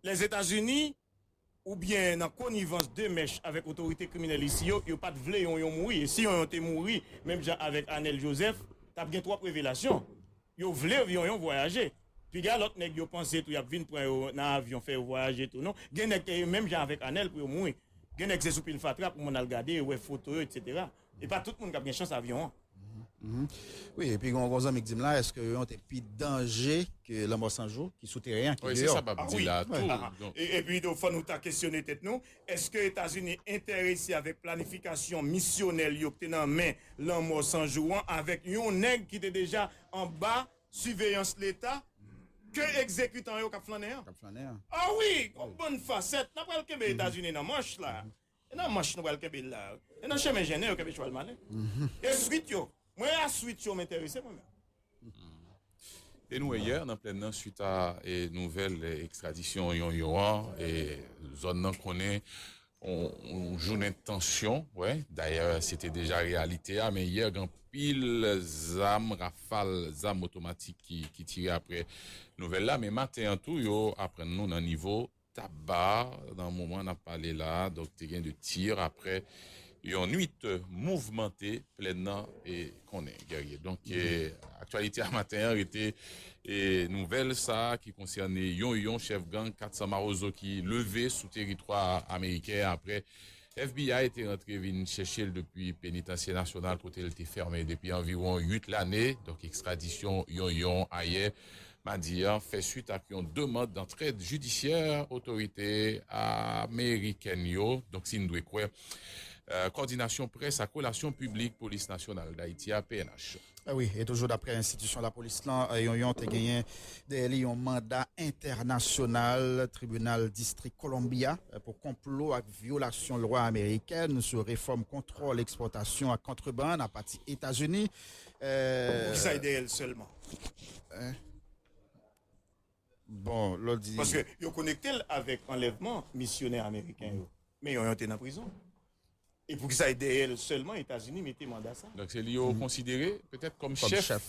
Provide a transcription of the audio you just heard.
Lèzetazini, oubyen nan konivans de mèch avèk otorite kriminèl isi yo, yo pat vle yon yon mouri. E si yon yon te mouri, menm jan avèk Anèl Jozèf, t ap gen twòp revelasyon. Yo vle yon yon vwayaje. Piga lòt nèg yo panse tou y ap vin pran yo nan avyon fè yo vwayaje tou non. Gen nèg ke menm jan avèk Anèl pou yo mouri. Gen nèg se sou pil fatra pou moun al gade, wè foto yo, eksetera. E pa tout moun kap gen chans avyon an. Wi epi gen yon zanmi k dim la eske yon te pi danje ke lanmò san jou ki sou teren an ki deyò. Wi se sa map di la tou. Epi tou fò nou ta kesyone tèt nou eske etazini enterese avèk planifikasyon misyonèl yo k te nan men lanmò san jou an avèk yon nèg ki te deja anba siveyans leta ke ekzekitan yo kap flannen an. Kap flannen an. A wi gon bann fasèt nan pral kenbe etazini nan manch la. E nan manch nou pral kenbe la. E nan chemen jennen yo kenbe chwal malen. E swit yo, mwen a swit yo m enterese mwen menm. E nou wè yè nan plèn nan swit a nouvèl ekstradisyon Yonyon an, e zòn nan konnen yon jounen tansyon, wè, dayè se te deja reyalite a, men yè gen anpil zam, rafal zam otomatik ki tire aprè nouvèl la, men maten an tou yo aprann nou nan nivo. Tabar, nan moman n ap pale la a, donk te gen 2 tir aprè yon nwit mouvmante plèn nan e konnen Guerrier. Donk aktyalite a maten an rete nouvèl sa a ki konsène yon yon chèf gang 400 mawozo ki leve sou teritwa ameriken aprè FBI te rantre vin chèche l depi Penitansye Nasyonal kote l te fèmen depi anviwon 8 lane. Donk ekstradisyon Yonyon ayè madi a fè swit ak yon demand dantrèd jidisyè otorite amerikèn yo, donk si n dwe kwè Kòdinasyon Près ak Relasyon Piblik Polis Nasyonal Dayiti a, pnh. Wi, e toujou daprè enstitisyon lapolis lan, Yonyon te genyen dèyè li yon manda entènasyonal Tribinal Distrik Columbia pou konplo ak. Vyolasyon lwa amerikèn sou refòm kontwòl ekspòtasyon ak kontrebann apati Etazini. Poukisa li dèyè l sèlman? Bon, lò di. Paske yo konekte l avèk anlèvman misyonè ameriken yo. Men yon yon te nan prizon. E poukisa li dèyè l sèlman Etazini mete manda sa? Donk se li yo konsidere petèt kòm chèf